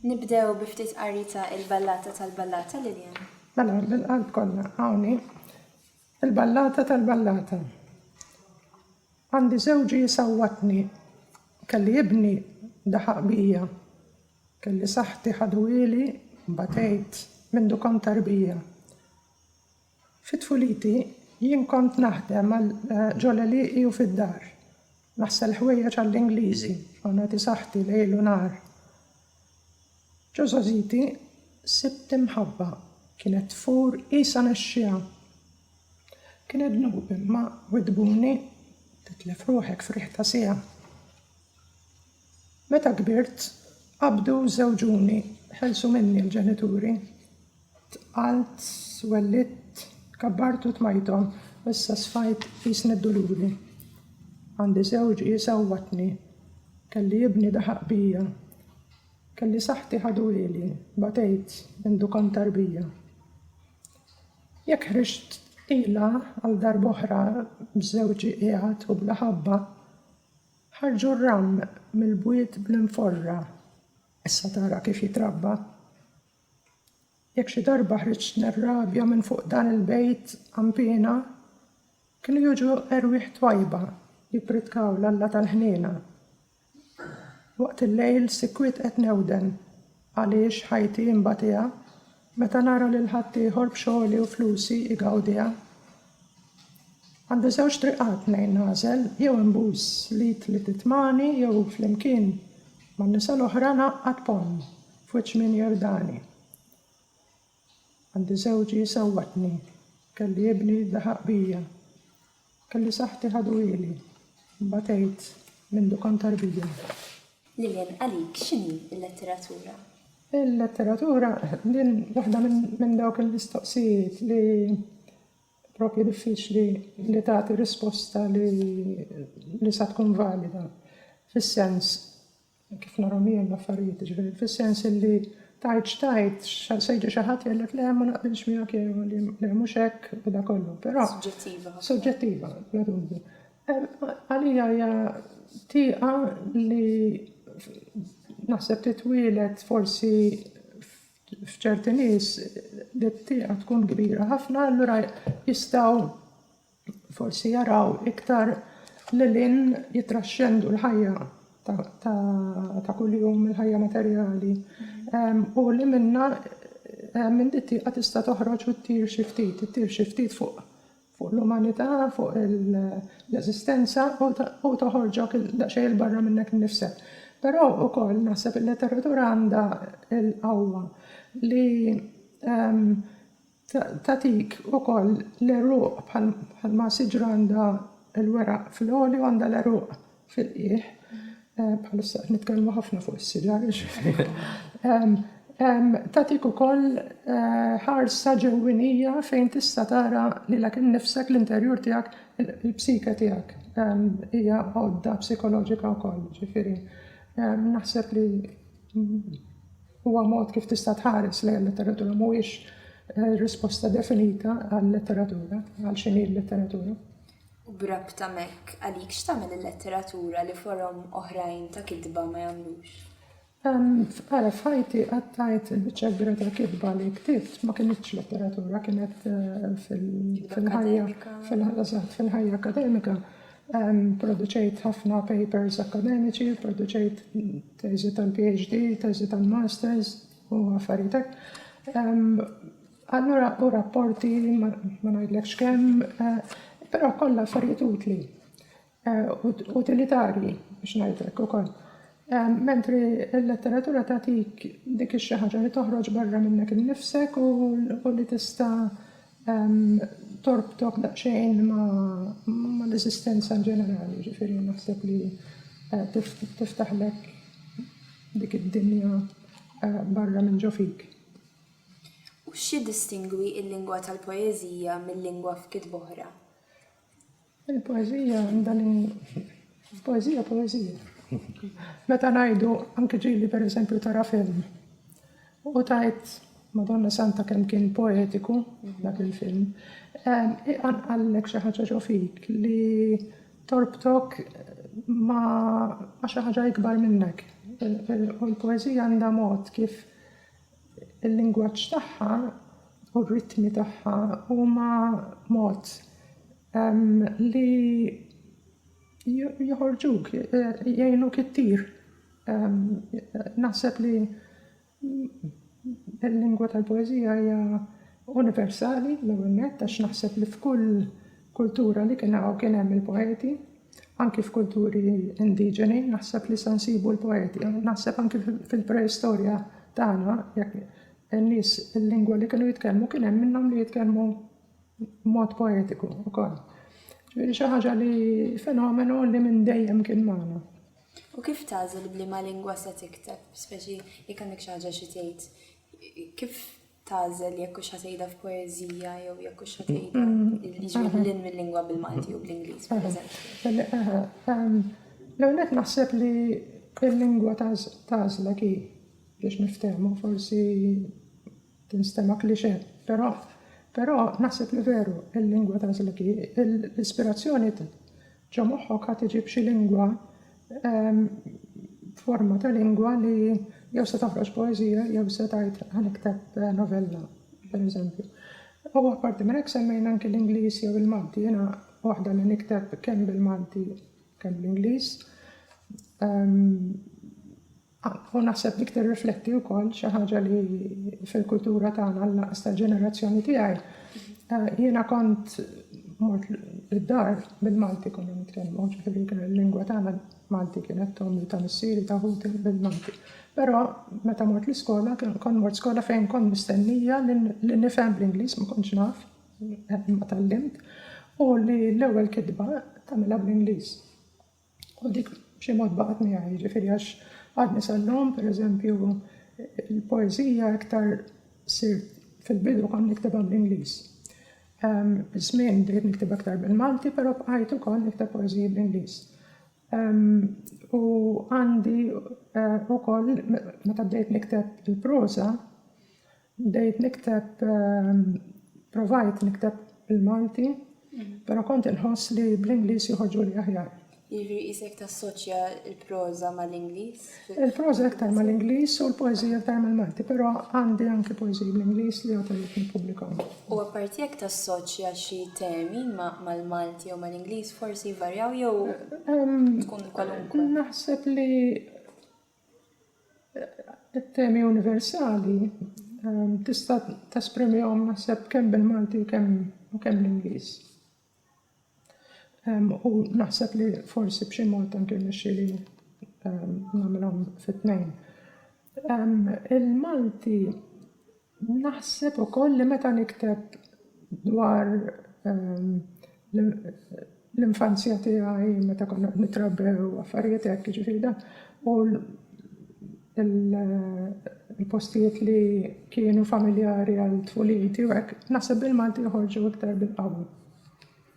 Nibdew bi ftit qarita il-ballata tal-ballata Lilian. Mela, bil-qalb kollha hawnni Il-ballata tal-ballata Għandi żewġi jsawwatni Kelli ibni daħaq bija Kelli saħħti ħaduhieli Batejt mindu kont tarbija Fi tfuliti jien kont naħdem ġol-għelieqi u fid-dar Naħsel ħwejjeġ għall-Ingliżi u nagħti saħħti lejl u nhar. Ġo żgħożiti sibt imħabba kienet tfur qisha nexxiegħa. Kienet dnub imma widdbuni titlef ruħek f'riħ ta' siegħa. Meta kbirt qabdu żewġuni ħelsu minni l-ġenituri. Tqalt, wellidt, kabbart u tmajthom. Issa sfajt qisni d-duluri. Għandi żewġ qies għawwadtni. Kelli ibni daħaq bija. Kelli saħħti ħadu ili. Batejt, indu kont tarbija. Jekk ħriġt qila għal darb'oħra b'żewġi qiegħed u bla ħabba, ħarġu r-ramm mill-bwiet bl-inforra. Issa tara kif jitrabba. Jekk xi darba ħriġt nirrabja minn fuq dan il-bejt għanpiena, kienu jiġu erwieħ twajba jippritkaw l-Alla tal-ħniena. Waqt il-lejl sikwit qed newden għaliex ħajti nbatiha meta nara lil ħaddieħor b'xogħli u flusi jgawdiha. Għandi żewġ triqat tnejn nagħżel, jew inbus l-id li titmani jew flimkien man-nisa l-oħra ngħaqqad ponn F'wiċċ min jerdani. Għandi żewġi sewwatni. Kelli ibni daħaq bija. Kelli saħħti ħadu ili. Batejt mindu kont tarbija. Lillian, għalik x'inhi l-letteratura? Il-letteratura din waħda minn dawk il-mistoqsijiet li propju diffiċli li tagħti risposta li sa tkun valida. Fis-sens Minn kif narhom jien l-affarijiet, jiġifieri fis-sens illi tajt x'tajt, se jiġi xi ħadd jgħidlek le ma naqbilx miegħek jew le mhux hekk u da kollu, però. Suġġettiva ħafna. Suġġettiva, bla dubju. Għalija hija tieqa li naħseb titwielet forsi f'ċerti nies li t-tieqa tkun kbira ħafna, allura jistgħu forsi jaraw iktar lil hinn, jittraxxendu l-ħajja ta' kuljum, il-ħajja materjali. U li minna minn dittiqa tista' toħroġ u ttir xi ftit, ttir xi ftit fuq fuq l-umanità, fuq l-eżistenza u toħorġok daqsxejn il-barra minnek innifsek. Però ukoll naħseb il-letteratura għandha l-qawwa li ehm, Tagħtik ukoll l-għeruq bħalma siġra għandha l-weraq fl-għoli u għandha l-għeruq fil-qiegħ. Bħalissa qed nitkellmu ħafna fuq is-siġar. Tagħtik ukoll eh, ħarsa ġewwinija fejn tista' tara lilek innifsek l-interjur tiegħek, il-psike tiegħek. Hija għodda psikoloġika wkoll, ġifieri. Naħseb li Huwa mod kif tista' tħares lejn il-letteratura, mhuwiex risposta definita għal-letteratura, għal x'inhi l-letteratura. U b'rabta m'hekk, għalik x'tagħmel il-letteratura li forom oħrajn ta' kitba ma jagħmlux? Ara, f'ħajti qattajt il-biċċa kbira tal-kitba li ktibt ma kinitx letteratura, kienet fil-ħajja fil-ħajja akademika. Produċejt ħafna papers akademiċi, produċejt teżi tal-PhD, teżi tal-Masters u affarijiet hekk. Allura u rapporti ma ngħidlekx kemm, eh, però kollha affarijiet utli eh, utilitarji biex ngħidlek ukoll. Eh, mentri l-letteratura tagħtik dik xi ħaġa li toħroġ barra minnek innifsek u li tista' torbtok daqsxejn ma' l-eżistenza in ġenerali, jiġifieri naħseb li tiftaħlek dik id-dinja barra minn ġo fik. U x'jiddistingwi l-lingwa tal-poeżija mil-lingwa f'kitba oħra? Il-poeżija għandha li poeżija poeżija. Meta ngħidu anke ġieli pereżempju tara film u tajt Madonna Santa kemm kien poetiku dak il-film, ehm, iqanqallek xi ħaġa ġo fik li torbtok ma' xi ħaġa ikbar minnek. U l-poeżija għandha mod kif il-lingwaġġ tagħha u r-ritmi tagħha huma mod li joħorġuk, jgħinuk ittir. Naħseb li l-lingwa tal-poeżija hija universali l-ewwel nett għax naħseb li f'kull kultura li kien hawn kien hemm il-poeti, anki f'kulturi indiġeni, naħseb li se nsibu l-poeti, naħseb anki fil-preistorja tagħna jekk in-nies il-lingwa li kienu jitkellmu kien hemm minnhom li jitkellmu b'mod poetiku wkoll. Ġifieri xi ħaġa li fenomenu li minn dejjem kien magħna. U kif tagħżel b'liema lingwa se tikteb, speċi jekk għandek xi ħaġa xi tgħid, kif tagħżel jekk hux ħatejda f'poeżija jew jekk hux ħatejda jiġri lil mill-lingwa bil-Malti u bl-Ingliż, pereżempju. L-għonek naħseb li il-lingwa tagħżla ki biex niftehmu forsi tinstema klixe, però però naħseb li veru il-lingwa tagħżla ki l-ispirazzjoni Ġo moħħok għad iġib xi lingwa, forma ta' lingwa li jew se toħroġ poeżija jew se tgħid ħa nikteb novella, pereżempju. U apparti minn hekk semmejna anki l-Ingliż jew il-Malti. Jiena waħda li nikteb kemm bil-Malti kemm bl-Ingliż. U naħseb dik tirrifletti wkoll xi ħaġa li fil-kultura tagħna l-lanqas tal-ġenerazzjoni tiegħi. Eh, jiena kont mort id-dar bil-Malti konna nitkellmu, ġifieri kien il-lingwa tagħna Malti kienet tommi ta' missieri ta' ħuti bil-Malti. Però meta mort l-iskola kont mort skola fejn kont mistennija li nifhem bl-Ingliż ma kontx naf eh, ma tallimt u li l-ewwel kitba tagħmilha bl-Ingliż. U dik b'xi mod baqgħet miegħi, jiġifieri għax għadni sal-lum, pereżempju, il-poeżija iktar sir fil-bidu kont niktibha bl-Ingliż. Biż-żmien bdejt niktibha iktar bil-Malti, però bqajt ukoll nikteb poeżiji bl-Ingliż. U għandi ukoll meta bdejt nikteb il-proża, Bdejt nikteb, provajt nikteb bil-Malti, pero kont inħoss li bl-Ingliż joħorġuli aħjar. Jiġifieri qisek tassoċja l-proża mal-Ingliż? Il-proża iktar mal-Ingliż u l-poeżija iktar mal-Malti, pero għandi anki poeżiji bl-Ingliż li għad irrid nippubblikahom. U apparti jekk tassoċja xi temi mal-Malti jew mal-Ingliż forsi jvarjaw jew tkun kwalunkwe? Naħseb li It-temi universali ehm, tista' tesprimihom naħseb kemm bil-Malti u kemm u kemm l-Ingliż. Ehm, u naħseb li forsi b'xi mod anke nixxi li ehm, nagħmilhom fit-tnejn. Il-Malti Naħseb ukoll li meta nikteb dwar l-infanzja tiegħi meta konna qed nitrabbew affarijiet hekk jiġifieri dan u l-postijiet li kienu familjari għal tfuliti u hekk, naħseb bil-Malti joħorġu iktar bil-qawwa.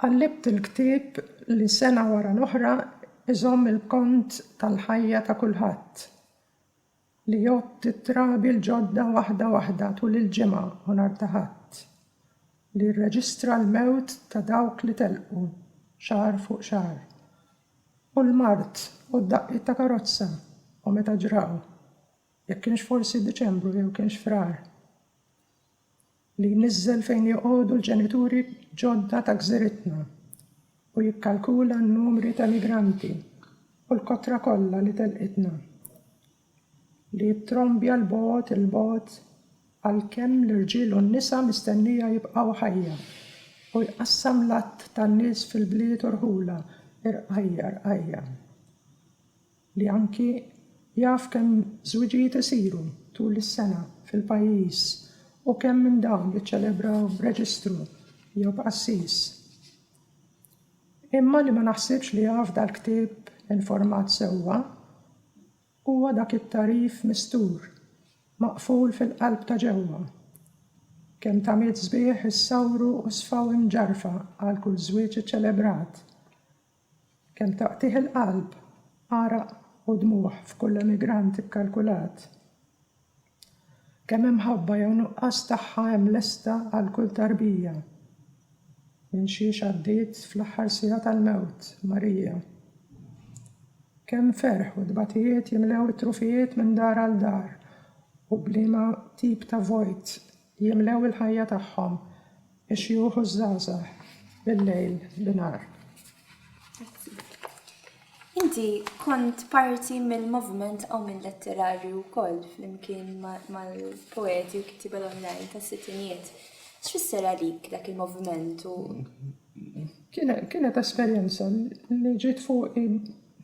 Qallibt il-ktieb li sena wara l-oħra iżomm il-kont tal-ħajja ta' kulħadd, li jgħodd it-trabi l-ġodda waħda waħda tul il-Ġimgħa u nhar ta' Ħadd, li jirreġistra l-mewt ta' dawk li telqu xahar fuq xahar, u l-mard u d-daqqiet ta' karozza u meta ġraw, jekk kienx forsi Diċembru jew kienx Frar. li jniżżel fejn joqogħdu l-ġenituri ġodda ta' gżiritna u jikkalkula n-numri ta' migranti u l-kotra kollha li telqitna, li jittrombja 'l bogħod, 'il bogħod għalkemm l-irġiel u n-nisa mistennija jibqgħu ħajja, u jqassam l-għadd tan-nies fil-bliet u rħula, irqajjar qajja. li anki jaf kemm żwiġijiet isiru tul is-sena fil-pajjiż u kemm minn dawn jiċċelebraw b'reġistru jew b'qassis, imma li ma naħsibx li jaf dal-ktieb informat sewwa, huwa dak it-tagħrif mistur, maqful fil-qalb ta' ġewwa. Kemm tamiet sbieħ issawru u sfaw imġarfa għal kull żwieġ iċċelebrat. Kemm taqtigħ il-qalb, għaraq u dmugħ f'kull emigrant ikkalkulat. Kemm imħabba jew nuqqas tagħha hemm lesta għal kull tarbija. Minn xiex għaddiet fl-aħħar siegħa tal-mewt, Marija. Kemm ferħ u tbatijiet jimlew it-trufijiet minn dar għal dar u b'liema tip ta' vojt Jimlew il-ħajja tagħhom, ix-xjuħ u ż-żgħażagħ, bil-lejl, binhar. Grazzi. Inti kont parti mill-moviment qawmien letterarju wkoll flimkien mal-poeti u kittiba l-oħrajn tas-sittinijiet. X'fisser għalik dak il-moviment u Kienet esperjenza li ġiet fuqi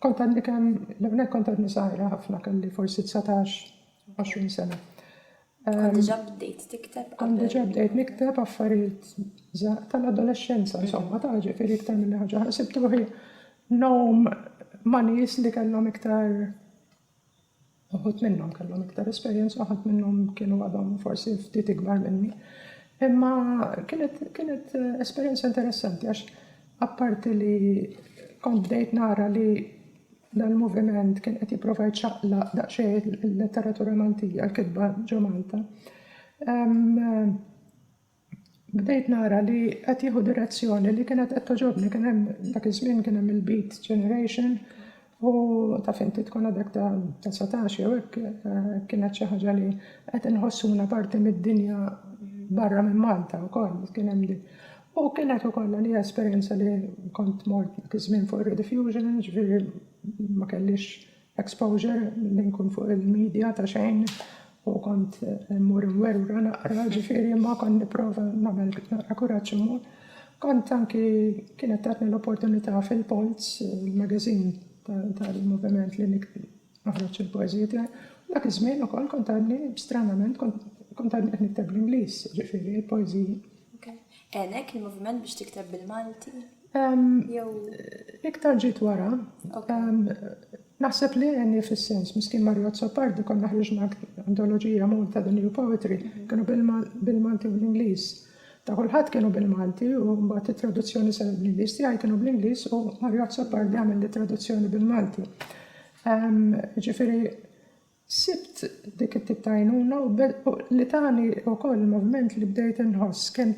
kont għadni kemm l-ewwel nett kont għadni żgħira ħafna kelli forsi 19, 20 sena. Kont diġà bdejt tikteb qabel. Kont diġà bdejt nikteb affarijiet tal-adolexxenza, insomma, ta' ġifieri iktar minn ħaġa oħra. Sibt ruħi nom ma' nies li kellhom iktar uħud minnhom kellhom iktar esperjenza, uħud minnhom kienu għadhom forsi ftit ikbar minni. Imma kienet, kienet esperjenza interessanti għax apparti li kont bdejt nara li Dan il-moviment kien qed jipprova jċaqlaq daqsxejn il-letteratura Maltija, l-kitba ġo Malta. Bdejt nara li qed jieħu direzzjoni li kienet qed toġobni kien hemm dak iż-żmien kien hemm il-Beat Generation u ta' finti tkun għadek ta' 19 jew hekk eh, kienet xi ħaġa li qed inħossuna parti mid-dinja barra minn Malta wkoll kien hemm U kienet ukoll għalija esperjenza li kont mort dak iż-żmien fuq ir-rediffusion, jiġifieri ma kellix exposure li nkun fuq il-media ta' xejn u kont immur imwerwra naqra, jiġifieri imma kont nipprova nagħmel naqra kuraġġ immur. Kont anki kienet tatni l-opportunità fil-Polz, il-magazin tal-moviment li noħroġ il-poeżiji tiegħi. Dak iż-żmien ukoll kont għadni stranament kont għadni qed nikteb bl-Ingliż, jiġifieri l-poeżiji. Għenek il-moviment biex tikteb bil-Malti? Jew. Iktar ġiet wara. Naħseb li għenni fis-sens, miskin Mario Azzopardi konna ħriġna antoloġija Malta the New Poetry, kienu bil-Malti u bl-Ingliż. Ta' kulħadd kienu bil-Malti u mbagħad it-traduzzjoni saret bl-Ingliż, tiegħi kienu bl-Ingliż u Mario Azzopardi għamel li traduzzjoni bil-Malti. Ġifieri Sibt dik it-tip ta' għajnuna u li tani wkoll il-moviment li bdejt inħoss kemm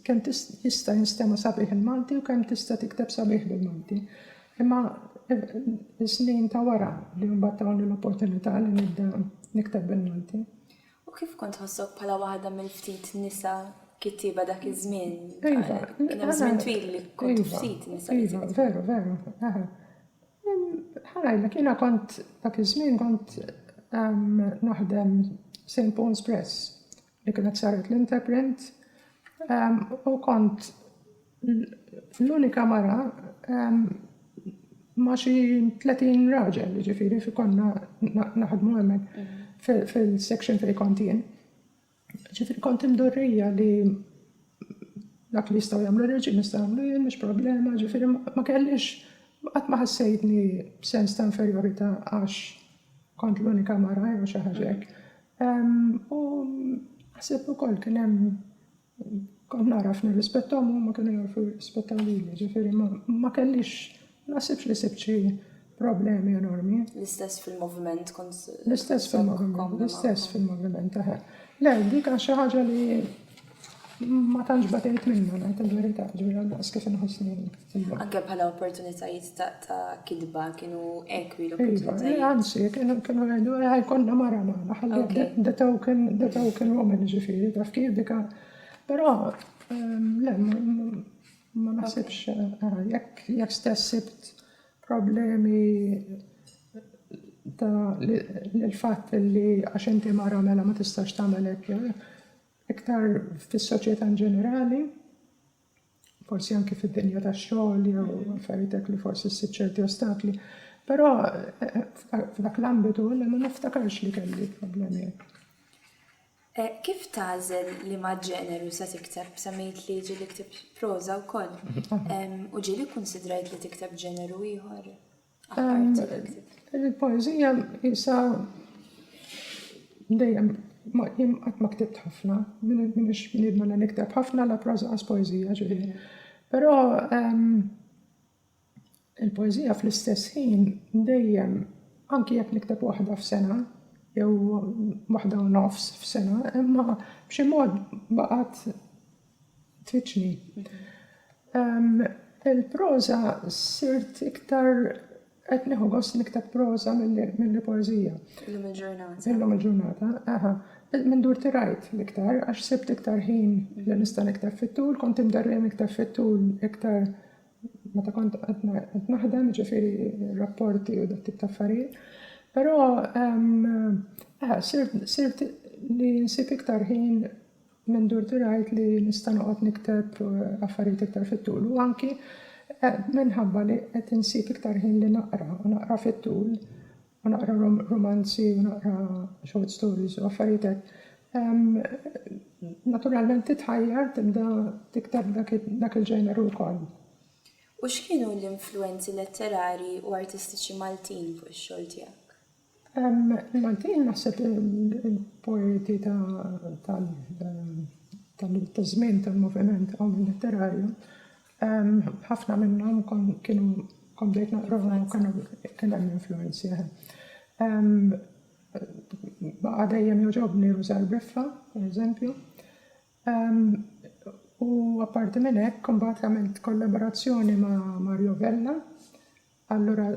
kemm jista' jinstema' sabiħ il-Malti u kemm tista' tikteb sabiħ bil-Malti. Imma is-snin ta' wara li mbagħad tawni l-opportunità li nibda nikteb bil-Malti. U kif kont tħossok bħala waħda mill-ftit nisa kittieba dak iż-żmien? Iva. Kien hemm żmien twil li kont ftit nisa. Iva, veru, veru. Ħanajlek, jiena kont dak iż-żmien kont naħdem St. Paul's Press li kienet saret l-Interprint u kont l-unika mara ma' xi 30 raġel, ġifiri, fi konna naħdmu hemmhekk fil-section fejn kont jien. Ġifiri kont imdorrija li dak li jistaw jamlu reġi nistaw jamlu jien, mux problema, ġifiri ma kellix, għat ma ħassejtni sens ta' inferiorita għax kont l-unika mara jew xi ħaġek. U ħsib ukoll kien hemm kont naraf nirrispettom u ma kienu jarfu jirrispettaw lili, ġifiri ma kellix Ma naħsibx li sibt xi problemi enormi. L-istess fil-moviment kont. L-istess fil-moviment, l-istess fil-moviment, eħe. Le, dik għax xi ħaġa li ma tantx batejt minna ngħid il-verità, ġifieri għandaqs kif inħossni. Anke bħala opportunitajiet ta' kidba kienu ekwi iva, l-opportunitajiet. Anzi, kienu għedu għaj konna mara maħna, ħalli the token, the token woman ġifieri, taf kif dika. Però, ehm, le, Ma naħsibx, jekk stess sibt problemi ta' l-fatt li għax inti mara mela ma tistax tagħmel hekk jew hekk, iktar fis-soċjetà in ġenerali, forsi anki fid-dinja tax-xogħol jew affarijiet hekk li forsi ssib ċerti ostakli. Però f'dak l-ambitu ma niftakarx li kelli problemi hekk. Kif tagħżel liema ġeneru se tikteb? Semmejt li ġieli ktibt proża wkoll. U ġieli kkunsidrajt li tikteb ġeneru ieħor? Il-poeżija isa dejjem jien qatt ma ktibt ħafna, minix bniedem li nikteb ħafna la proża għas poeżija ġieli. Però Il-poeżija fl-istess ħin dejjem, anki jekk nikteb waħda f'sena jew waħda u nofs f'sena, imma b'xi mod baqgħet tfittxni. Il-proża sirt iktar qed nieħu gost nikteb proża milli poeżija. Illum il-ġurnata. Illum il-ġurnata, aha. Minn dur tirajt l-iktar, għax sibt iktar ħin li nista' nikteb fit-tul, kont imderrija nikteb fit-tul iktar meta kont qed naħdem, jiġifieri rapporti u dat tip ta' affarijiet. Però eh, sirt li nsib iktar ħin minn dur tirajt li nista' noqgħod nikteb eh, affarijiet iktar fit-tul u anki eh, minħabba li qed insib iktar ħin li naqra u naqra fit-tul u naqra rumanzi u naqra short stories u affarijiet hekk. Naturalment titħajjar tibda tikteb dak il-ġeneru wkoll. U x'kienu l-influwenzi letterarji u artistiċi Maltin fuq ix-xogħol tiegħek? Maltin naħseb il-poeti ta' żmien tal-moviment għom letterarju Ħafna minnhom kienu kont bdejt naqrahom u kienu kien hemm influenzi. Baqa' dejjem joġobni Rużar Briffa, pereżempju. U apparti minn hekk imbagħad għamilt kollaborazzjoni ma' Mario Vella, allura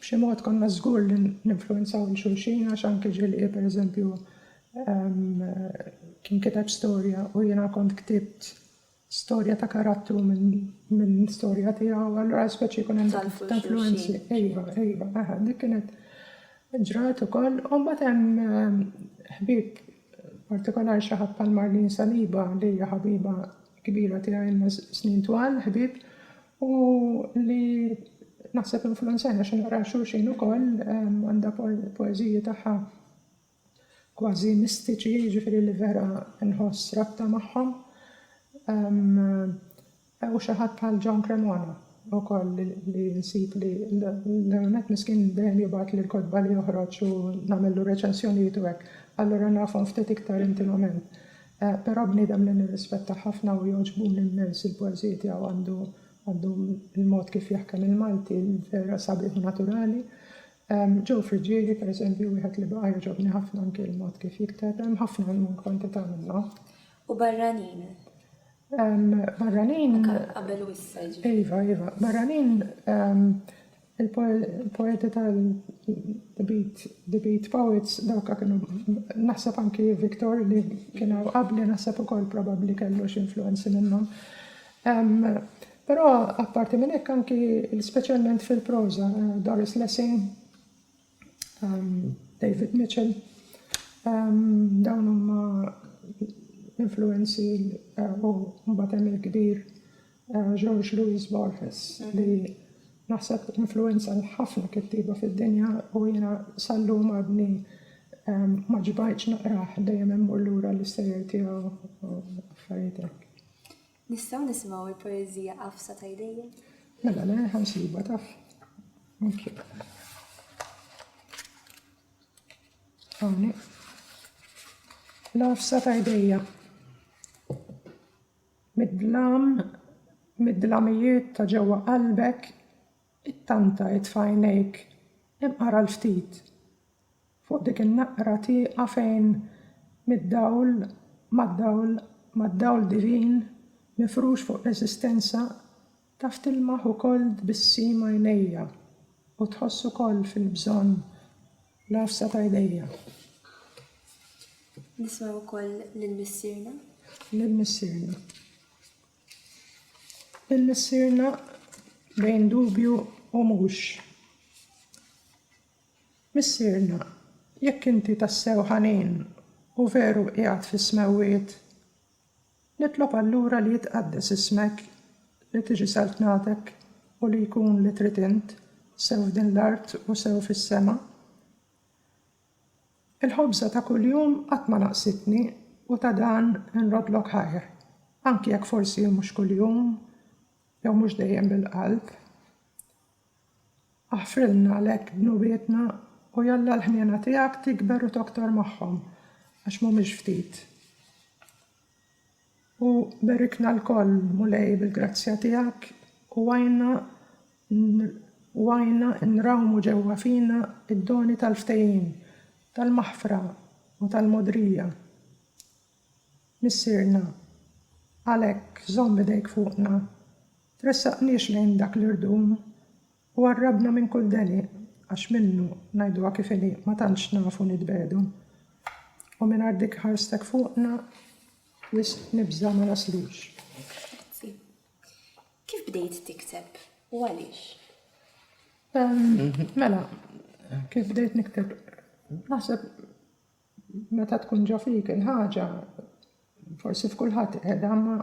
b'xi mod konna żgur li ninfluenzaw lil xulxin għax anke Ġilli pereżempju kien kiteb storja u jiena kont ktibt storja ta' karattru minn storja tiegħu, allura speċi jkun hemm dak ta' influenzi. Ejva, ejva, aha, dik kienet ġrat ukoll. U mbagħad hemm ehm, ħbib partikolari xi ħadd bħal Marlin Saliba li hija ħabiba kbira tiegħi ilna snin twal, ħbib, u li naħseb influenzajna xi naqra xulxin ukoll ehm, għandha poeżiji tagħha kważi mistiċi jiġifieri li vera nħoss rabta magħhom u xi ħadd bħal John Cremona ukoll li nsib li l-ewwel nett miskin dejjem jibgħatli l-kotba li joħroġ u nagħmillu reċensjonijiet u hekk allura nafhom ftit iktar intimament però bniedem li nirrispettah ħafna u jogħġbuni immens il-poeżiji tiegħu għandu il-mod kif jaħkem il-Malti vera sabiħ u naturali Joe Friggieri, pereżempju, wieħed li baqa' jogħġobni ħafna anki l-mod kif jikteb, hemm ħafna minn kwantità minnhom. U barranin? Barranin. Qabel u issa jiġifieri. Iva, iva. Barranin il-poeti tal-The Beat, The Beat Poets, dawk kienu naħseb anki Victor li kienu qabli naħseb ukoll probabbli kellu xi influenzi minnhom. Però apparti minn hekk anki speċjalment fil-proża Doris Lessing, David Mitchell, dawn huma influenzi u mbagħad hemm il-kbir George Louis Borges li naħseb influenza l-ħafna kittieba fid-dinja u jiena sal-lum għadni ma ġbajtx naqrah dejjem immur lura l-istejjer tiegħu affarijiet hekk. Nistgħu nisimgħu l-poeżija Għafsa ta' jdejja? Mela le, ħa nsibha taf. Hawnhekk. L-għafsa ta' jdejja. Mid-dlam, mid-dlamijiet ta' ġewwa qalbek, it-tanta it f'għajnejk, imqara l-ftit. Fuq dik in-naqra tieqa fejn mid-dawl, mad-dawl, mad-dawl divin mifrux fuq l-eżistenza, taf tilmaħ ukoll tbissim għajnejja u tħoss ukoll fil-bżonn l-għafsa ta' jdejja. Nisma' ukoll lil missierna. Lil missierna. Lil missierna bejn dubju u mhux. Missierna, jekk inti tassew ħanin u veru qiegħed fis-smewwiet, nitlob allura li jitqaddes ismek, li tiġi saltnatek u li jkun li trid int, sew f'din l-art u sew fis-sema. Il-ħobża ta' kuljum qatt ma naqsitni u ta' dan inroddlok ħajr, anki jekk forsi mhux kuljum jew mhux dejjem bil-qalb. Aħfrilna għalhekk dnubietna u jalla l-ħniena tiegħek tikber u toktor magħhom, għax m'humiex ftit. U berikna lkoll, Mulej, bil-grazzja tiegħek u għinna u għinna nrawmu ġewwa fina d-doni tal-ftehim, tal-maħfra u tal-mogħdrija. Missierna, għalhekk żomm idejk fuqna, tressaqniex lejn dak li rdum, u għarrabna minn kull deniq, għax minnu, ngħiduha kif inhi, ma tantx nafu nitbegħdu. U mingħajr dik ħarstek fuqna, wisq nibża' ma naslux. Grazzi. Kif bdejt tikteb u għaliex? Mela, kif bdejt nikteb? Naħseb Meta tkun ġo fik il-ħaġa, forsi f'kulħadd qiegħda, ma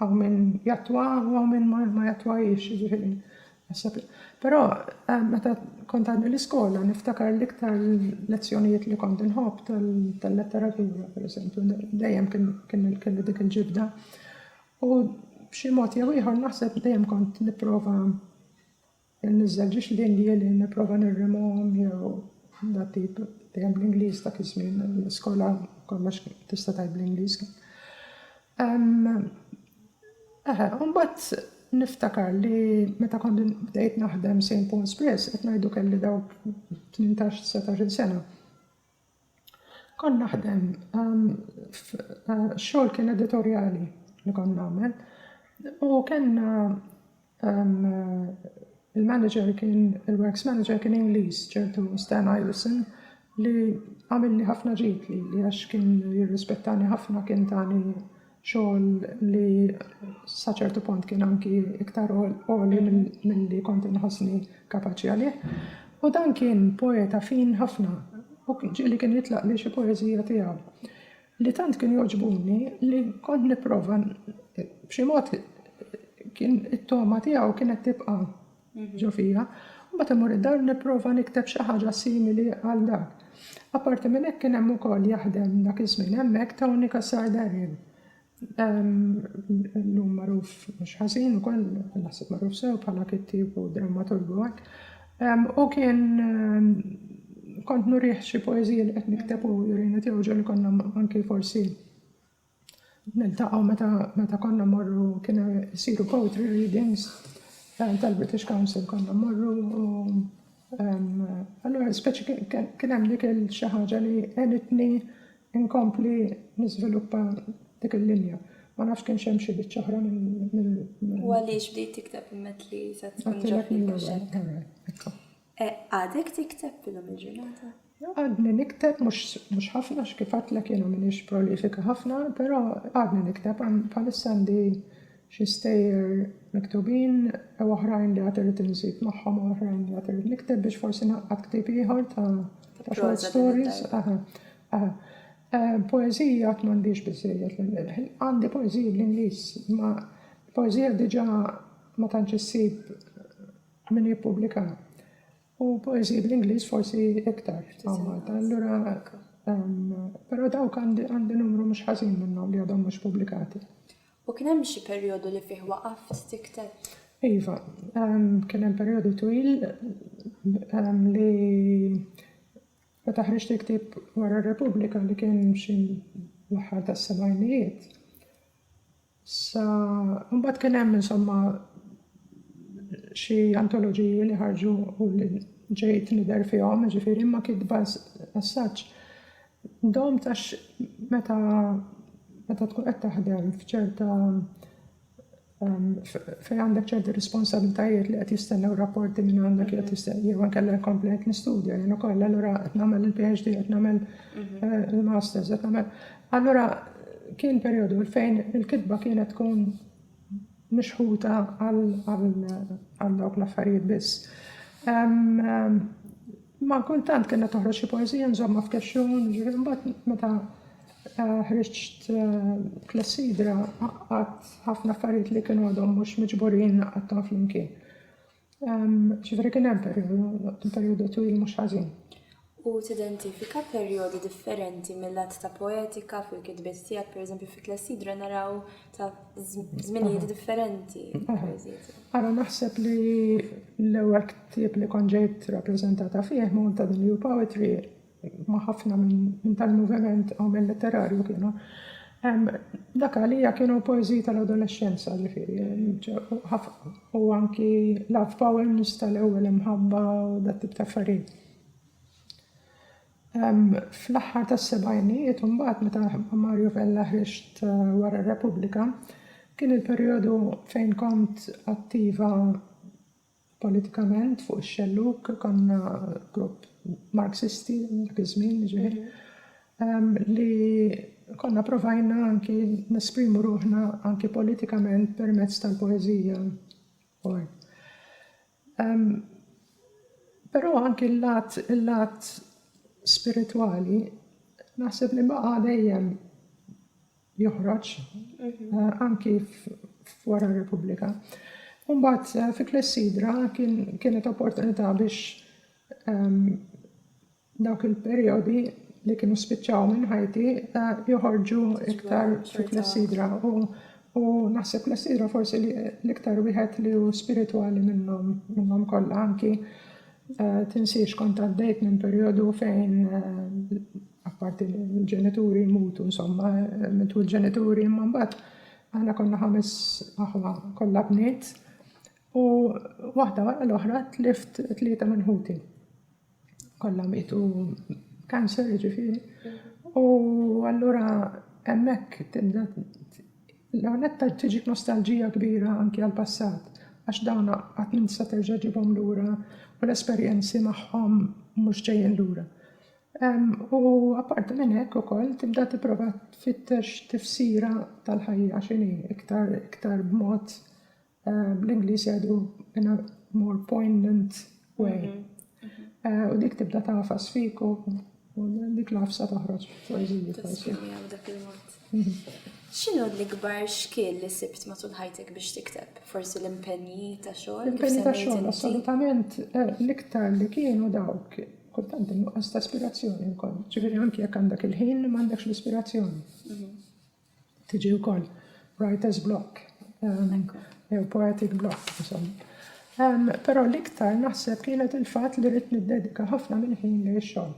hawn min jattwa u hawn min ma jattwahiex, jiġifieri naħseb. Però eh, meta kont għadni l-iskola niftakar l-iktar lezzjonijiet li kont inħobb tal-letteratura, per eżempju, dejjem kien kelli dik il-ġibda. U b'xi mod jew ieħor naħseb dejjem kont nipprova Inniżżel ġiex linji li nipprova nirrimhom jew dat tip dejjem bl-Ingliż dak iż-żmien l-iskola kollox tista' tgħid bl-Ingliż. Eħe, u mbagħad niftakar li meta kont bdejt naħdem St. Paul's Press qed ngħidu kelli dawk 18 sena. Kont naħdem f'xogħol kien editorjali li kont nagħmel u kellna il-manager kien il-works manager kien Ingliż ċertu Stan Iveson li għamilli ħafna ġid li għax kien jirrispettani ħafna kien tani xogħol li sa ċertu punt kien anki iktar għoli milli kont inħossni kapaċi għalih. U dan kien poeta fin ħafna u ġieli kien jitlaq li xi poeżija tiegħu li tant kien joġbuni li kont nipprova b'xi mod kien it-toma tiegħu kienet tibqa' ġo fija, u mbagħad immur id-dar u nipprova nikteb xi ħaġa simili għal dak. Apparti minn hekk kien hemm ukoll jaħdem dak iż-żmien hemmhekk Tony Cassar-Darin, illum magħruf mhux ħażin ukoll, naħseb magħruf sew bħala kittieb u drammaturgu hekk, u kien kont nurih xi poeżiji li qed nikteb u jurini tiegħu ġieli konna anki forsi Niltaqgħu meta meta konna mmorru kienu jsiru poetry readings eh, tal-British Council konna mmorru u allura speċi kien hemm dik il-xi ħaġa li għenitni inkompli niżviluppa dik il-linja. Ma nafx kien xem xi biċċa oħra minn. U għaliex bdejt tikteb immet li se tkun ġobni Għadek tikteb illum il-ġurnata? Għadni nikteb, mhux ħafna x'kif għadtlek jiena m'iniex prolifika ħafna, però għadni nikteb bħalissa għandi xi stejjer miktubin u oħrajn li għad irrid inżid magħhom u oħrajn li għad irrid nikteb biex forsi naqgħad ktieb ieħor ta' short stories. Poeżija għad m'għandix biżejjed għandi poeżiji bl-Ingliż, ma poeżija diġà ma tantx issib Min jippubblika? U poeżiji bl-Ingliż forsi iktar hawn Malta. Allura, però dawk għandi numru mhux ħażin minnhom li għadhom mhux pubblikati. U kien hemm xi perjodu li fih waqaft tikteb? Iva, kien hemm perjodu twil li meta ħriġt il-ktieb wara r-Repubblika li kien xi l-aħħar tas-sebgħinijiet. Sa mbagħad kien hemm insomma xi antoloġiji li ħarġu u li ġejt nidher fihom, ġifieri imma kitba assaġġ dom tax meta meta tkun qed taħdem f'ċerta fejn għandek ċerti responsabilitajiet li qed jistennew rapporti minn għandek li qed jistennew jew inkella jkompli qed nistudja jien ukoll allura qed nagħmel il-PhD qed nagħmel mhm. eh, il-masters qed nagħmel Allura kien perjodu fejn il-kitba kienet tkun mixħuta għal dawk l-affarijiet biss. Ma kultant kena toħroġ xi poeżija nżomma f'kexxun, ġifieri mbagħad meta eh, ħriġt eh, klessidra għadd ħafna affarijiet li kienu għadhom mhux miġburin għadhom flimkien. Ġifieri kien hemm perjodu twil mhux ħażin. U tidentifika perjodi differenti mill-att ta' poetika fil-kitbiet tiegħek, pereżempju fi Klessidra naraw ta' żminijiet differenti. Ara naħseb li l-ewwel ktieb li konġejt rappreżentata fih ma' ta' The New Poetry ma' ħafna minn dan il-moviment għamel letterarju kienu dak għalija kienu poeżiji tal-adolexxenza ġifieri u anki love poems tal-ewwel imħabba u dat tip ta' affarijiet. Fl-aħħar tas-sebgħinijiet imbagħad meta Mario Vella ħriġt wara r-Repubblika kien il-perjodu fejn kont attiva politikament fuq ix-xellug konna grupp Marxisti dak iż-żmien ġifieri ehm, li konna provajna anki nesprimu ruħna anki politikament permezz tal-poeżija. Ehm, però anki l-lat l-lat spiritwali naħseb li baqa' dejjem joħroġ anki f'wara r-Repubblika. Umbat fi Klessidra kienet opportunità biex dawk il-perjodi li kienu spiċċaw minn ħajti joħorġu iktar fi Klessidra u naħseb Klessidra forsi l-iktar wieħed li hu spiritwali minnhom kollha anki Tinsiex kont għaddejt minn perjodu fejn apparti l-ġenituri jmutu, insomma, mitu l-ġenituri imma mbagħad aħna konna ħames aħwa kollha bniet u waħda wara l-oħra tlift tlieta minn ħuti. Kollha mietu kanser ġifieri u allura hemmhekk tibda L-ewwel nett tgħid tiġik nostalġija kbira anki għall-passat għax dawn qatt m'int tista' terġa' ġġibhom lura u l-esperjenzi magħhom mhux ġejjin lura. U apparti minn hekk ukoll tibda tipprova tfittex tifsira tal-ħajja x'inhi iktar iktar b'mod Eh, Bl-Ingliż jgħidu in a more poignant way. Mhm, mhm. Eh, u dik tibda tafas fik u dik l-afsa toħroġ poeżija forsi. Mhm. X'inhu l-ikbar xkiel li sibt matul ħajtek biex tikteb? Forsi l-impenji ta' xogħol? L-impenji ta' xogħol, assolutament. Eh, l-iktar li kienu dawk kultant nuqqas ta' ispirazzjoni wkoll. Ġifieri anke jekk għandek il-ħin m'għandekx l-ispirazzjoni. Tiġi wkoll writer's block jew poetic block insomma. Però l-iktar naħseb kienet il-fatt li rrid niddedika ħafna minn ħin li xogħol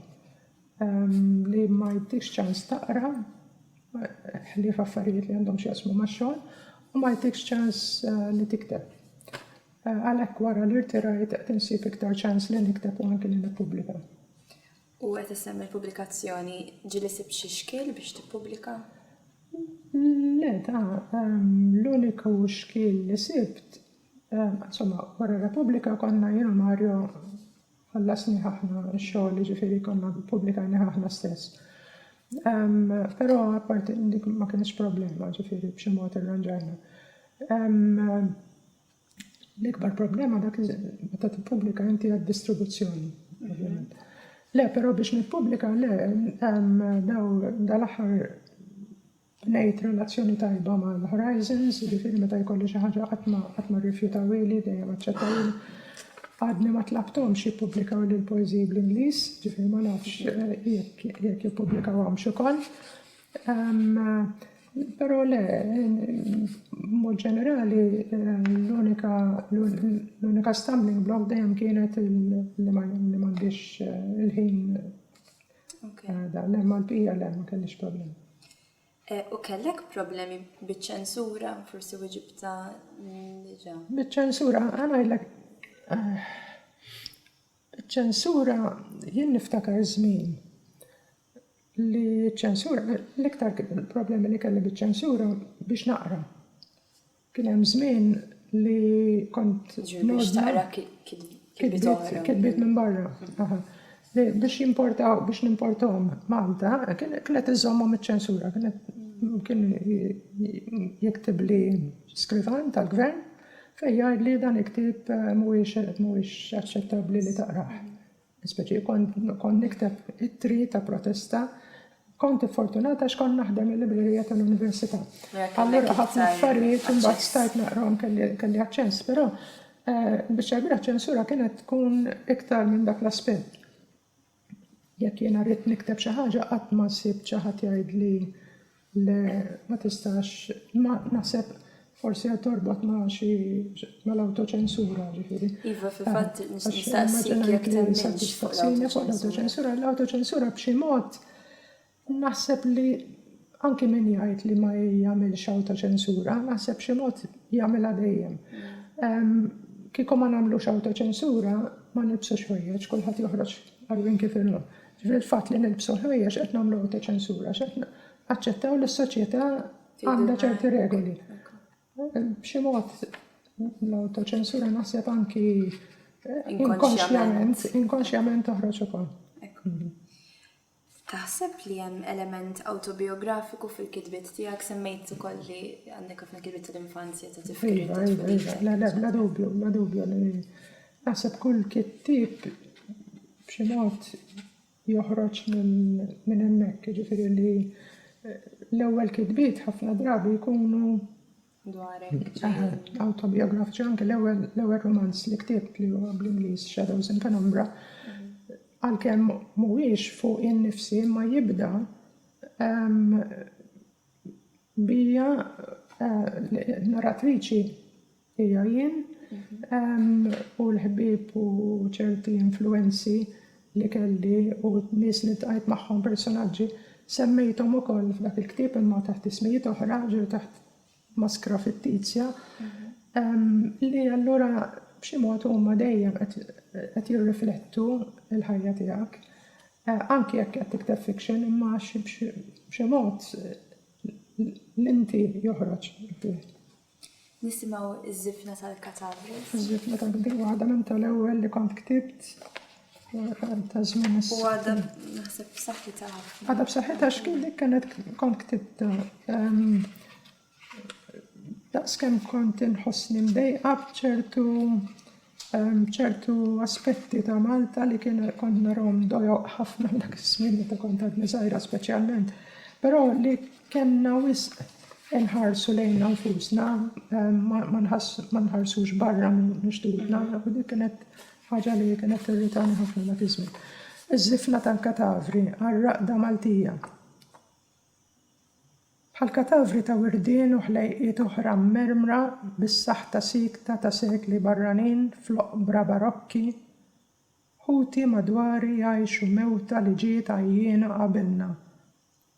li ma jtix ċans taqra ħlief affarijiet li għandhom x'jaqsmu max-xogħol u ma jtikx ċans li tikteb. Għalhekk wara li rtirajt qed insib iktar ċans li nikteb u anki li nippubblika. U qed issemmi l-pubblikazzjoni, ġieli sibt xi xkiel biex tippubblika? Le, ta, l-uniku xkiel li sibt, insomma, wara Repubblika konna jien u Mario ħallasnih aħna x-xogħol, jiġifieri konna ppubblikajnih aħna stess. Però apparti dik ma kienx problema, ġifieri b'xi mod irranġajna. L-ikbar problema dak li meta tippubblika inti għad-distribuzzjoni, ovvjament. Le, però biex nippubblika, le, daw dal-aħħar nejt relazzjoni tajba ma' l-Horizons, ġifiri meta jkolli xi ħaġa qatt ma rrifjutawili, dejjem aċċettawili. Għadni ma tlabtom xi pubblikaw li l-poeziji bl-Ingliż, ġifiri ma nafx eh, jekk jippublikaw għam xukol. Però le, b'mod ġenerali, l-unika l-unika stumbling block dejjem kienet li m'għandix il-ħin da, le mal-bqija le ma kellix problemi. Eh, u kellek problemi biċ-ċensura, forsi wieġibta diġà? Biċ-ċensura, għanajdlek. Eh, ċensura jien niftakar żmien li ċ-ċensura, l-iktar problemi li kelli biċ-ċensura biex naqra. Kien hemm żmien li kont naqra kitbiet minn barra. Biex jimportaw, biex nimportom Malta, kienet iżommhom iċ-ċensura, kien jiktib li skrivan tal-gvern fejn jgħid li dan iktib mhuwiex aċċettabbli li taqrah. Speċi kont nikteb ittri ta' protesta, kont iffortunata għax kont naħdem il-librerija tal-università. Allura ħafna affarijiet imbagħad stajt naqrom kelli aċċess, però eh, biex ċarbira ċensura kienet tkun iktar minn dak l-aspett. Jekk jiena rrid nikteb xi ħaġa qatt ma sibt xi ħadd jgħidli Le, ma tistax, imma naħseb forsi qed torbot ma' xi mal-awtoċensura, ġifieri. Iva, fil-fatt nistaqsik jekk temminx fuq l-awtoċensura. L-awtoċensura b'xi mod naħseb li anki min jgħid li ma jagħmilx awtoċensura, naħseb b'xi mod jagħmilha dejjem. Kieku ma nagħmlux awtoċensura, ma nilbsux ħwejjeġ, kulħadd joħroġ għarwien kif inhu. Jiġifieri l-fatt li nilbsu l-ħwejjeġ qed nagħmlu awtoċensura għax qed naċċettaw li s-soċjetà għandha ċerti regoli. B'xi mod l-awtoċensura naħseb anki inkonxjament, inkonxjament toħroġ ukoll. Taħseb li hemm element autobiografiku fil-kitbiet tiegħek semmejt ukoll li għandek ħafna kitbiet tal-infanzja ta' tifkir. Iva, iva, iva, la dubju, la dubju li naħseb kull kittib b'xi mod joħroġ minn hemmhekk, jiġifieri li l-ewwel kitbiet ħafna drabi jkunu dwarek awtobijografiċi anke l-ewwel l-ewwel romanz li ktibt li huwa bl-Ingliż Shadows in Penumbra għalkemm mhuwiex fuq innifsi ma jibda bija eh, narratriċi Hija jien u l-ħbieb u ċerti influwenzi li kelli u nies li ltqajt magħhom, personaġġi, semmejthom ukoll f'dak il-ktieb imma taħt ismijiet oħra, ġieli taħt maskra fittizja, li allura b'xi mod huma dejjem qed jirriflettu l-ħajja tiegħek. Anki jekk qed tikteb fiction imma b'xi mod l-inti joħroġ fih. Nisimgħu ż-żifna tal-katavri. Ż-żifna ta' dik waħda minn tal-ewwel li kont ktibt fl-aħħar ta' żmien is U għadha naħseb b'saħħitha ħafna. Għadha b'saħħitha x'kien dik kienet kont ktibt daqs kemm kont inħossni mdejqa b'ċertu Hemm ċertu aspetti ta' Malta li kien kont narahom dojoq ħafna f'dak iż-żmien meta kont għadni żgħira speċjalment, però li kellna wisq inħarsu lejna nfusna, ma nħarsux barra minn xtutna, u dik kienet ħaġa li kienet tirritani ħafna dak iż-żmien. Iż-żifna tal-katavri għar-raqda Maltija. bħal katavri ta' wirdien u ħlejqiet oħra mmermra bis-saħta siekta ta' sekli barranin fl-oqbra barokki, ħuti madwari jgħixu mewta li ġiet għajjiena qabilna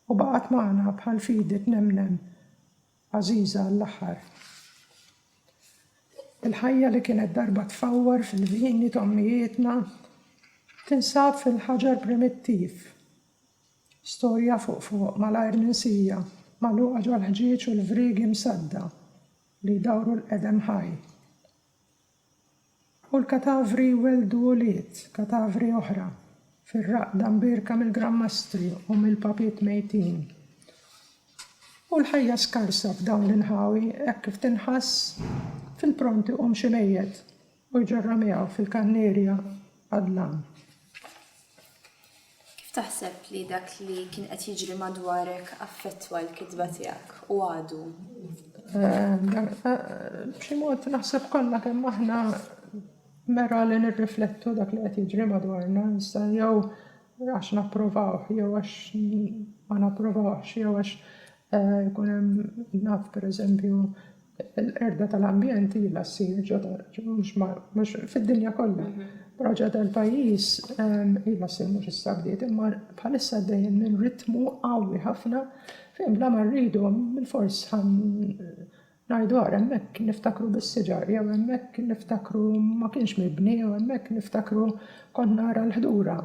u baqgħet magħna bħal fidi tnemnem għażiża għall-aħħar. Il-ħajja li kienet darba tfawwar fil-vini t'ommijietna tinsab fil-ħaġar primittiv Storja fuq fuq, malajr minsija, magħluqa ġol-ħġieġ u l-vriegi msadda li jdawru l-qedem ħaj. U l-katavri jwelldu ulied, katavri oħra, fir-raqda mbierka mill-Gran Mastri u mill-Papiet mejtin. U l-ħajja skarsa f'dawn l-inħawi hekk kif tinħass, fil-pront iqum xi mejjet, U jġarrha miegħu fil-kannierja għad-dlam. Kif taħseb li dak li kien qed jiġri madwarek affettwa l-kitba tiegħek, u għadu? B'xi mod naħseb kollha kemm aħna mera li nirriflettu dak li qed jiġri madwarna, issa jew għax napprovawh, jew għax ma napprovawhx, jew għax ikun hemm naf pereżempju Il-qerda tal-ambjent ilha ssir ġo darġ, mhux fid-dinja kollha, però ġo dal-pajjiż ilha ssir mhux issa bdiet imma bħalissa għaddejjin minn ritmu qawwi ħafna fejn bla ma rridu bilfors ngħidu ara hemmhekk niftakru bis-siġar jew hemmhekk niftakru ma kienx mibni jew hemmhekk niftakru kont nara l-ħdura.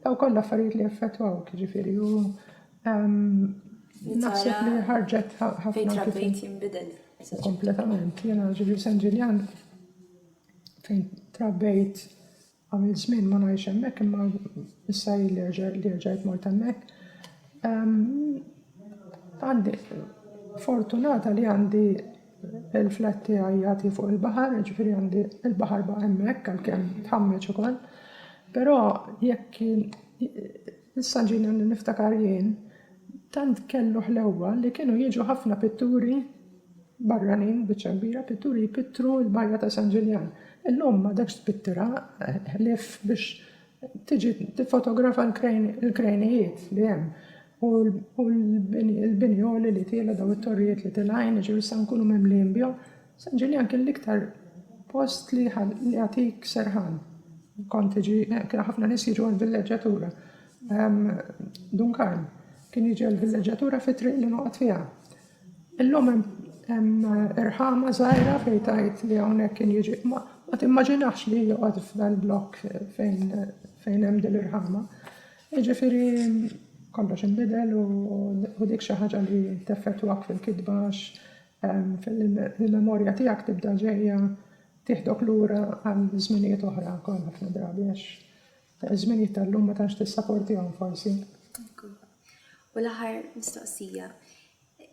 Dawn kollha affarijiet li jaffettwawk, jiġifieri u Naħseb li ħarġet ħafna kif jinbidel. Kompletament, jena ġivju San Ġiljan fejn trabbejt għamil żmien ma ngħix hemmhekk imma issa li rġajt mort hemmhekk. Għandi fortunata li għandi il-flat tiegħi jagħti fuq il-baħar, ġifieri għandi il-baħar baqa' hemmhekk għalkemm tħammeġ ukoll. Però jekk Issa ġieli niftakar jien, tant kellu ħlewwa li kienu jiġu ħafna pitturi barranin, biċċa kbira, pitturi jpittru l-Bajja ta' San Ġiljan. Illum m'għadekx tpittirha ħlief biex tiġi tiffotografa l-krejnijiet li hemm u l-bini għoli li tiela' dawn it-torrijiet li tilgħin, jiġifieri issa nkunu mimlijin bihom. San Ġiljan kien l-iktar post li jagħtik serħan. Kont tiġi, eh, kien ħafna nies jiġu għall-villeġġatura. Ehm, Dun Karl kien jiġi għall-villeġġatura fi triq li noqgħod fiha. Illum hemm irħama żgħira fejn tajt li hawnhekk kien jiġi ma timmaġinax li joqgħod f'dan blokk fejn fejn hemm din l-irħama. Jiġifieri kollox inbidel u dik xi ħaġa li teffettwak fil-kitba fil-memorja tiegħek tibda ġejja tieħdok lura għal żminijiet oħra wkoll ħafna drabi għax żminijiet tal-lum ma tantx tissaportihom forsi. U l-aħħar mistoqsija,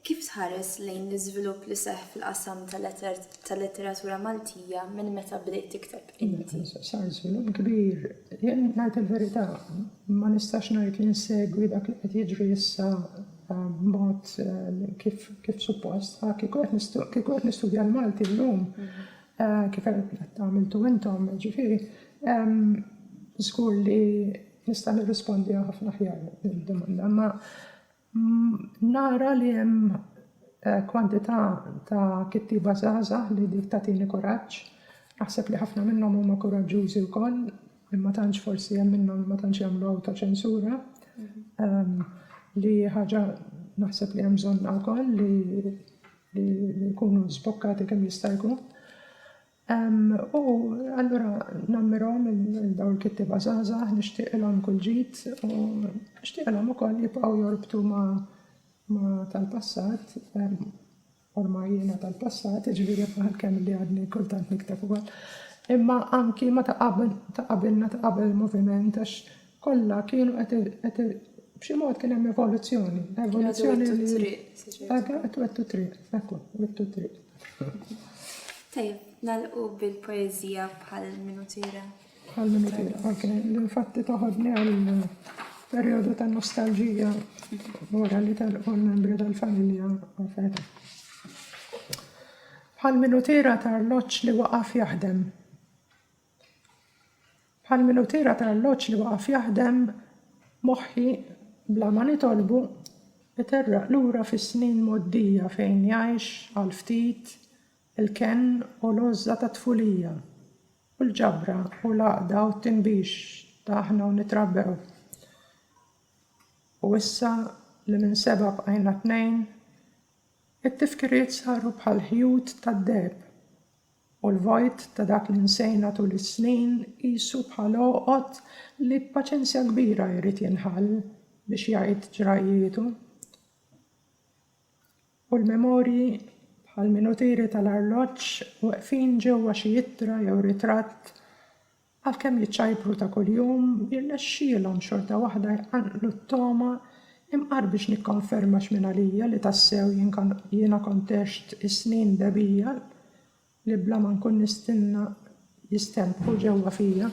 kif tħares lejn l-iżvilupp li seħ fil-qasam tal-letteratura Maltija minn meta bdejt tikteb inti? Sar żvilupp kbir, jien ngħid il-verità, ma nistax ngħid li nsegwi dak li qed jiġri issa b'mod kif suppost. Kieku qed nistudja l-Malti llum, kif qed tagħmiltu intom, ġifieri, żgur li nista' nirrispondiha ħafna aħjar din id-domanda. Ma nara li hemm kwantità ta' kittieba żgħażagħ li dik tagħtini kuraġġ. Naħseb li ħafna minnhom huma kuraġġużi wkoll li ma tantx forsi hemm minnhom li ma tantx jagħmlu awtoċensura, li ħaġa naħseb li hemm bżonn wkoll li jkunu żbokkati kemm jista' jkun. U allura nammirhom il-dawl kittiba żgħażagħ nixtieqilhom kull ġid u nixtieqilhom ukoll jibqgħu jorbtu ma' tal-passat ormai jiena tal-passat, jiġifieri bħal kemm li għadni kultant nikteb ukoll, imma anki ma' ta' qabel, ta' qabilna, ta' qabel il-moviment, għax kollha kienu qed, b'xi mod kien hemm evoluzzjoni, evoluzzjoni li. Għaddu t-triq, se ġejt. Għaddu, qed wettu t-triq, ekku, wittu t-triq. Tajjeb, nagħlqu bil-poeżija bħal min hu tira. Għall-minuti l-ħakna, l-infatti toħodni għal-periodu ta' nostalġija wara li tal-qol membri tal-familja għafet. Għall-minutira tal-loċ li waqaf jaħdem. Għall-minutira tal-loċ li waqaf jaħdem moħħi bla ma nitolbu iterraq lura fis-snin moddija fejn jgħix għal-ftit Il-kenn u l-għożża tat-tfulija, u l-ġabra u l-għaqda u t-tinbix ta' aħna u nitrabbew. U issa li minn sebgħa bqajna tnejn, it-tifkiriet saru bħal ħjut tad-deheb, u l-vojt ta' dak li nsejna tul is-snin qisu bħal għoqgħod li b'paċenzja kbira jrid jinħall biex jgħid ġrajjietu. u l-memorji, bħal minutieri tal-arloġġ, weqfin ġewwa xi ittra jew ritratt, għalkemm jiċċajpru ta' kuljum, jirnexxielhom xorta waħda jqanqlu t-togħma, Imqar biex nikkonferma x'minn għalija li tassew jiena kont għext is-snin dehbija li bla ma nkun nistenna jistenbħu ġewwa fija.